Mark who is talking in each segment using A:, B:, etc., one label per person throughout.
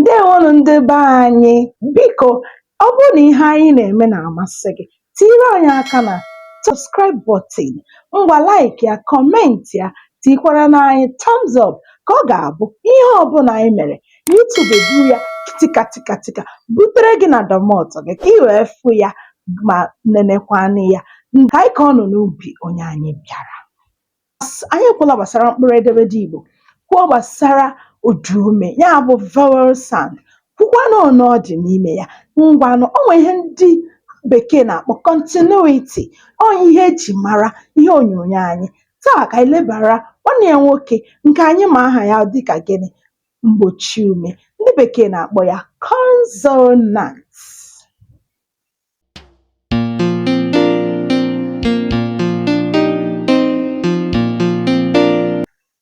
A: Ndeewonụ ndị be anyị. Biko, ọ bụrụ na ihe anyị na-eme na-amasị gị, tinyere anyị aka na subscribe button, ngwa like ya, comment ya, tikwaranụ anyị thumbs up ka ọ ga-abụ ihe ọbụla anyị mere, YouTube eburu ya tika tika tika butere gị na domot gị ka ị wee fụ ya ma nenekwanụ ya. Ka anyị kọọnụ n'ubi onye anyị bịara. Anyị ekwula gbasara mkpụrụ edemede Igbo kwuo gbasara ụdaume ya bụ vowel sound kwukwanụ one ọ dị n'ime ya ngwanụ o nwee ihe ndị bekee na-akpọ continuity ọ ihe e ji mara ihe onyonyo anyị taa ka anyị lebara nwanne ya nwoke nke anyị ma aha ya dịka gịnị mgbochi ume ndị bekee na-akpọ ya consonant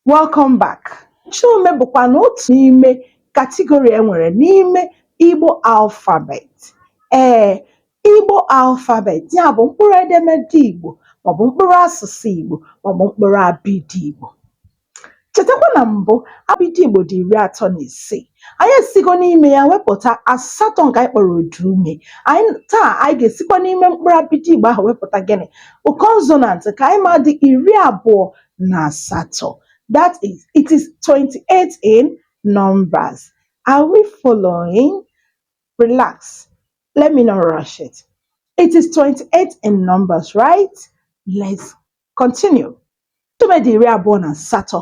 A: Welcome back. Mgbochi ume bụkwanụ otu n'ime category e nwere n'ime Igbo alphabet. Ee, Igbo alphabet ya bụ mkpụrụ edemede Igbo maọbụ mkpụrụ asụsụ Igbo maọbụ mkpụrụ abịdị Igbo. Chetakwa na mbụ, abịdị Igbo dị iri atọ na isii. Anyị esigo n'ime ya wepụta asatọ nke anyị kpọrọ ụda ume. Anyị taa anyị ga-esikwa n'ime mkpụrụ abịdị Igbo ahụ wepụta gịnị? Consonant nke anyị ma dị iri abụọ na asatọ. That is, it is 28 in numbers. Are we following? Relax. Let me not rush it. It is 28 in numbers, right? Let's Continue Mgbochi ume dị iri abụọ na asatọ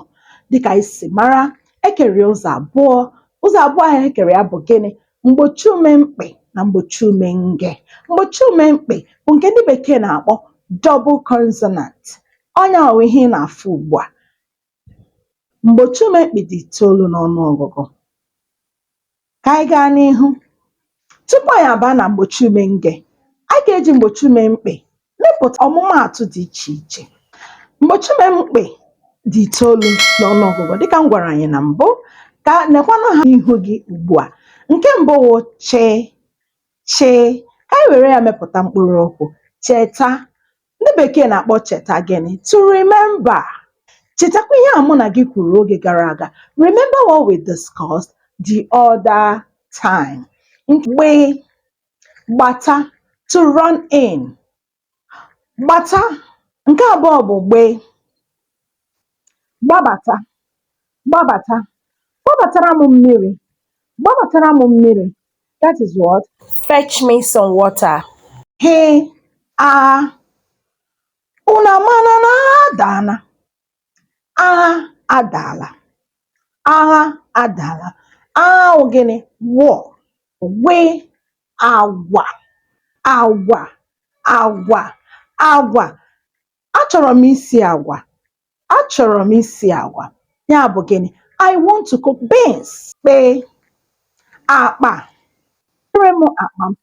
A: dịka anyị si mara e kere ya ụzọ abụọ ụzọ abụọ ahụ e kere ya bụ gịnị mgbochi ume mkpị na mgbochi ume nge mgbochi ume mkpị bụ nke ndị bekee na-akpọ double consonant ọ nya wụ ihe ị na-afụ ugbu a Mgbochi ume mkpị dị itoolu n'ọnụ ọgụgụ. Ka anyị gaa n'ihu. Tupu anyị abaa na mgbochi ume nge, anyị ga-eji mgbochi ume mkpị mepụta ọmụmaatụ dị iche iche. Mgbochi ume mkpị dị itoolu n'ọnụ ọgụgụ dị ka m gwara anyị na mbụ, ka nekwanụ ha n'ihu gị ugbu a. Nke mbụ wụ chị chị. Ka anyị were ya mepụta mkpụrụokwu, cheta, Ndị bekee na-akpọ cheta gịnị? To remember. Chetakwa ihe a mụ na gị kwuru oge gara aga. Remember what we discussed the other time. Gbe, gbata to run in. Gbata nke abụọ bụ gbe. gbabata gbabata gbabatara m mmiri gbabatara m mmiri that is what fetch me some water ghị agha unu amana na agha adaala agha adaala agha adaala agha wụ gịnị war gwị agwa agwa agwa agwa achọrọ m isi agwa achọrọ m isi agwa ya bụ gịnị I want to cook beans kpị akpa butere m akpa m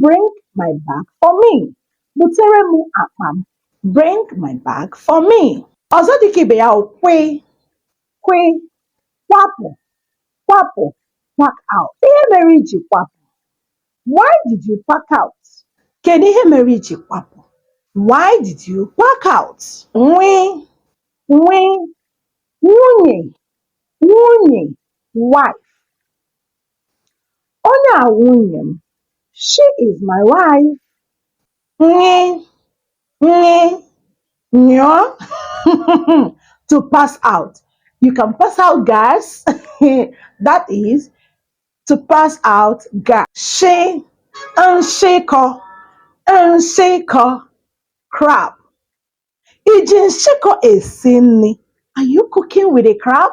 A: bring my bag for me butere m akpa m bring my bag for me ọzọ dịka ibe ya wụ kwị kwị kwapụ kwapụ pack out ihe mere i ji kwapụ Why did you pack out? Kedu ihe mere i ji kwapụ? Why did you pack out? Nwị, nwị, nwunye, nwunye, wife. Onye a nwunye m. She is my wife. Nyị, nyị, nyụọ. to pass out. You can pass out gas. That is, to pass out gas shị nshịkọ nshịkọ crab i ji nshịkọ esi nri are you cooking with a crab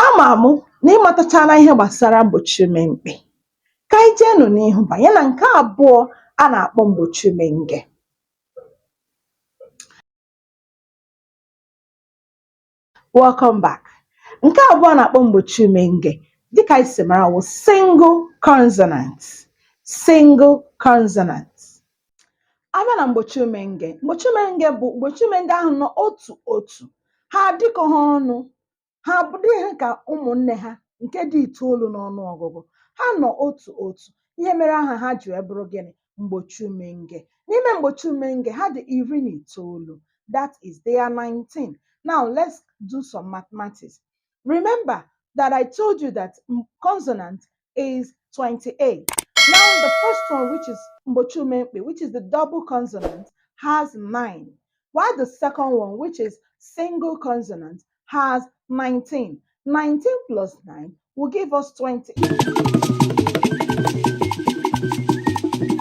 A: ama mụ na ị matachala ihe gbasara mgbochi ume mkpị ka anyị jeenụ n'ihu banye na nke abụọ a na-akpọ mgbochi ume nge Welcome back. Nke abụọ a na-akpọ mgbochi ume nge dịka anyị si mara wụ single consonant. Single consonant. A bịa na mgbochi ume nge, mgbochi ume nge bụ mgbochi ume ndị ahụ nọ otu otu. Ha adịkọ ha ọnụ, ha adịghị ka ụmụnne ha nke dị itoolu n'ọnụ ọgụgụ. Ha nọ otu otu. Ihe mere aha ha ji wee bụrụ gịnị? mgbochi umenge n'ime mgbochi umenge ha dị iri na itoolu that is they are 19 now let's do some mathematics remember that i told you that m- consonant is 28 now the first one which is mgbochi umengbe which is the double consonant has 9 while the second one which is single consonant has 19 19 plus 9 will give us 20